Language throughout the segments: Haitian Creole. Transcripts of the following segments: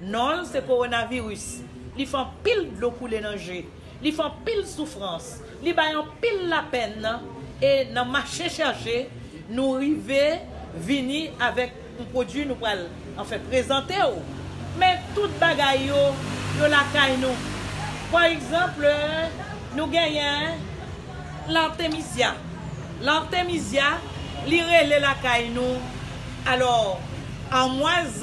Non l se kowonaviris. Li fè anpil dlo koule nan je. Li fè anpil soufrans. Li bay anpil lapenn. E nan mache chèche, nou rive vini avèk yon pwodui nou pral anfen prezante w. Men tout bagay yo, yo lakay nou. Pa egzanp, nou genyen L'artemisia. L'artemisia, li rele lakay nou. Alò, amwaz.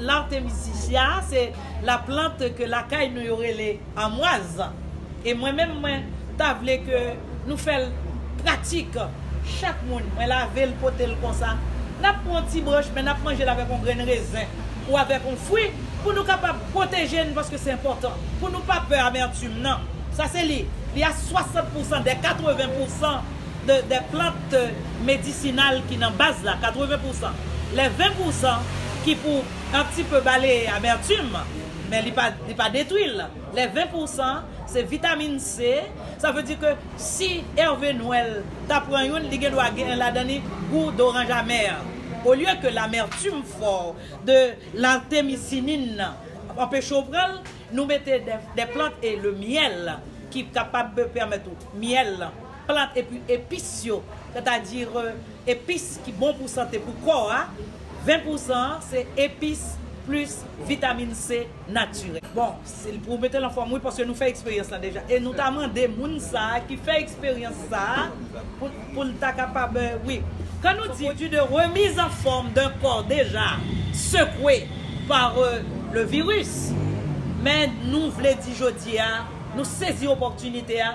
L'artemisia se la plante ke lakay nou yo rele amwaz e mwen menm mwen ta vle ke nou fèl pratik chak moun mwen lavel potel konsa nap pran yon ti branch men nap manjel avèk yon grenn rezen ou avèk yon fwi pou nou kapab pwoteje'n paske se enpòtan pou nou pa pè amertume nan sa se li li a 60 pousan dè 80 pousan de plant medisinal ki nan baz la, 80 pousan, lè 20 pousan ki pou an ti pe baleye amètim, men li pa li pa detwi l, lè 20 pousan se vitamin C, sa vle di ke si Hervé Noël ta pran youn li gen dwa gen ladan li gou doranj amè, olye ke lamètim fò de lartemisinin nan anpeche w pran l, nou mete de plant e le myèl ki kapab pèmèt ou myèl. Plant epi epis yo, sètadire epis ki bon pou sante pou kò a, 20 pousan an se epis plis vitamin C natirèl. Bon, si pou mete l anfòm wi paske nou fè eksperyans lan deja e nou ta mande moun sa a ki fè eksperyans sa a pou l ta kapab wi. Kan nou di pwodui de remiz anfòm d'un kò deja sekwe par le virus men nou vle di jodi a nou sezi opòtinite a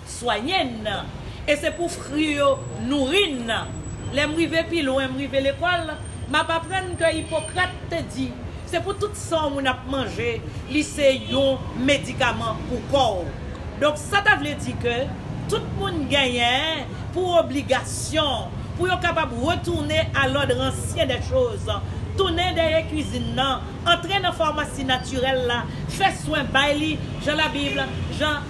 Swanye n nan. E se pou fri yo nouri n nan. Lè m rive pi lwen, m rive lekòl, m ap aprann ke Ipokrat te di, Se pou tout san yon moun ap manje, li se yon medikaman pou kò w. Donk, sa ta vle di ke tout moun genyen pou obligasyon pou yo kapab retounen a lòd ansyen dè choz, tounen dèyè kuizin nan, antre nan farmasi natirèl la, fè swen, bay li, jan Labib, jan.